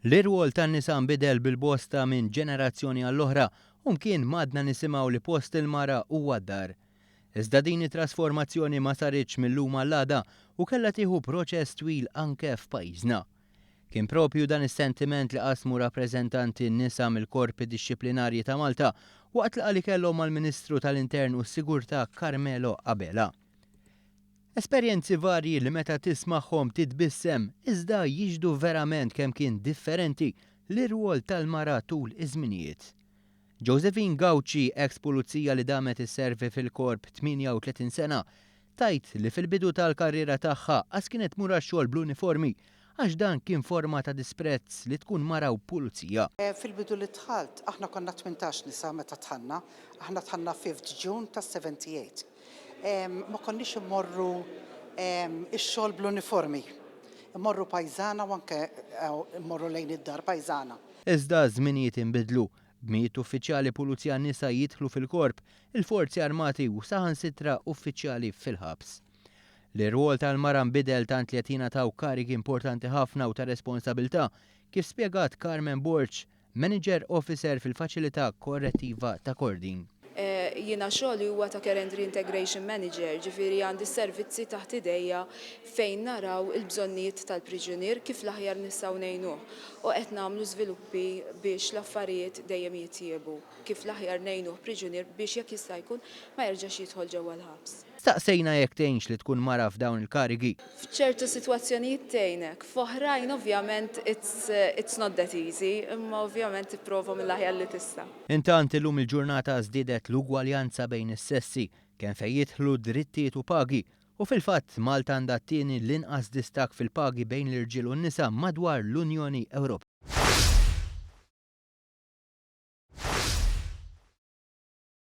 L-irwol tan-nisa nbidel bil-bosta minn ġenerazzjoni għall-oħra u mkien m'għadna nisimgħu li post il-mara huwa d-dar. Iżda din it-trasformazzjoni ma saritx mil-lum għall-għada u kellha tieħu proċess twil anke f'pajjiżna. Kien proprju dan is-sentiment li qasmu rappreżentanti nisa mill-Korpi Dixxiplinarji ta' Malta waqt laqgħa li kellhom mal-Ministru tal-Intern u s-Sigurtà Carmelo Abela. Esperjenzi varji li meta tismagħhom titbissem, iżda jixhdu verament kemm kien differenti l-irwol tal-mara tul iż-żminijiet. Josephine Gauci, eks pulizija li damet isservi fil-Korp 38 sena, tgħid li fil-bidu tal-karriera tagħha qas kienet tmur għax-xogħol bl-uniformi Għax dan kien forma ta' disprezz li tkun mara u pulizija. Fil-bidu li dħalt, aħna konna tmintax nisa meta dħalna, aħna dħalna fifth June tas-78. Ma konniex immorru ix-xogħol bl-uniformi. Immorru pajżana u anke immorru lejn id-dar pajżana. Iżda ż-żminijiet inbidlu. B'mijiet uffiċjali pulizija nisa jidħlu fil-Korp, il-Forzi Armati u saħansitra uffiċjali fil-ħabs. li r-rwol tal-mara nbidel tant li qed jingħataw karigi importanti ħafna u ta' responsabilità, kif spjegat Carmen Borg, Manager Officer fil-Faċilità Korrettiva ta' Kordin. Jiena xogħli huwa ta' Care and Reintegration Manager, ġifieri għandi s-servizzi taħt idejja fejn naraw il-bżonnijiet tal-priġunier kif l-aħjar nistgħu ngħinuh u qed nagħmlu żviluppi biex l-affarijiet dejjem jitjiebu kif l-aħjar ngħinuh priġunier biex jekk jista' jkun ma jerġax jidħol ġewwa l-ħabs. Staqsejna jekk tgħinx li tkun mara f'dawn il-karigi. F'ċertu sitwazzjonijiet tgħinek, f'oħrajn ovvjament it's not that easy, imma ovvjament tipprova mill-aħjar li tista'. Intant, illum il-ġurnata żdiedet l-ugwaljanza bejn is-sessi, kemm fejn jidħlu drittijiet u pagi, u fil-fatt Malta għandha t-tieni l-inqas distakk fil-pagi bejn l-irġiel u n-nisa madwar l-Unjoni Ewropea.